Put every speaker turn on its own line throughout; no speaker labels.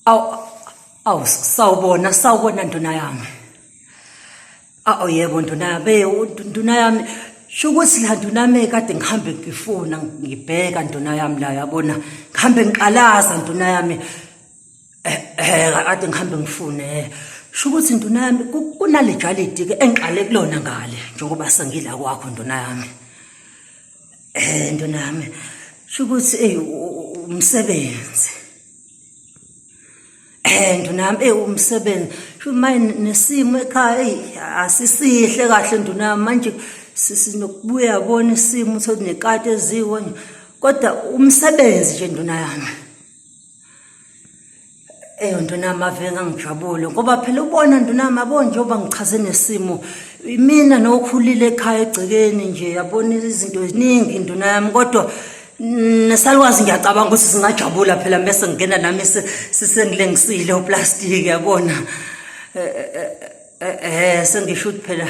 awu awu sawubona sawubona nduna yami awu yebo nduna yami nduna yami sho ukuthi la nduna yami kade ngihambe ngifuna ngibheka nduna yami la yabona ngihambe ngiqalaza nduna yami eh, eh kade ngihambe ngifune eh. sho ukuthi nduna yami kunale jalidi ke engiqale kulona ngale njengoba sengila kwakho nduna yami Eh ntwana yami shukuthi ey umsebenzi. Eh ntwana yami ey umsebenzi. Shumaye nesimo ekhaya ey asisihle kahle ntwana yami manje sisinokubuya bona isimo sokunekati eziwo kodwa umsebenzi nje ntwana yami. eyo ndunama ave ngangijabule ngoba phela ubona ndunama yabo njengoba ngichaze nesimo imina nokhulile ekhaya egcekeni nje yabona izinto eziningi nduna yami kodwa nesalwazi ngiyacabanga ukuthi singajabula phela mese ngingena nami sisengilengisile uplastiki yabona eh, eh, eh, eh sengisho ukuthi phela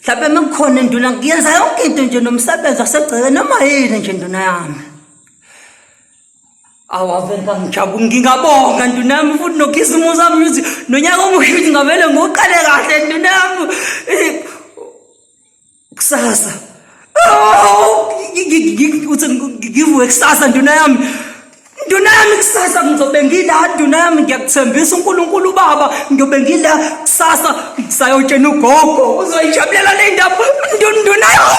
mhlawumbe uma kukhona induna ngiyenza yonke into nje nomsebenzi wasegcekeni noma yini nje nduna yami Awavengangijabu ngingabonga ndunami futhi nokhisimusi ami ukuthi nonyaka omuhle ukuthi ngavele ngoqale kahle ndunami kusasa uthi ngivuke kusasa nduna yami nduna yami kusasa ngizobe ngila nduna yami ngiyakuthembisa unkulunkulu ubaba ngiyobe ngila kusasa ngisayotshena ugogo uzoyijabulela le ndaba nduna yami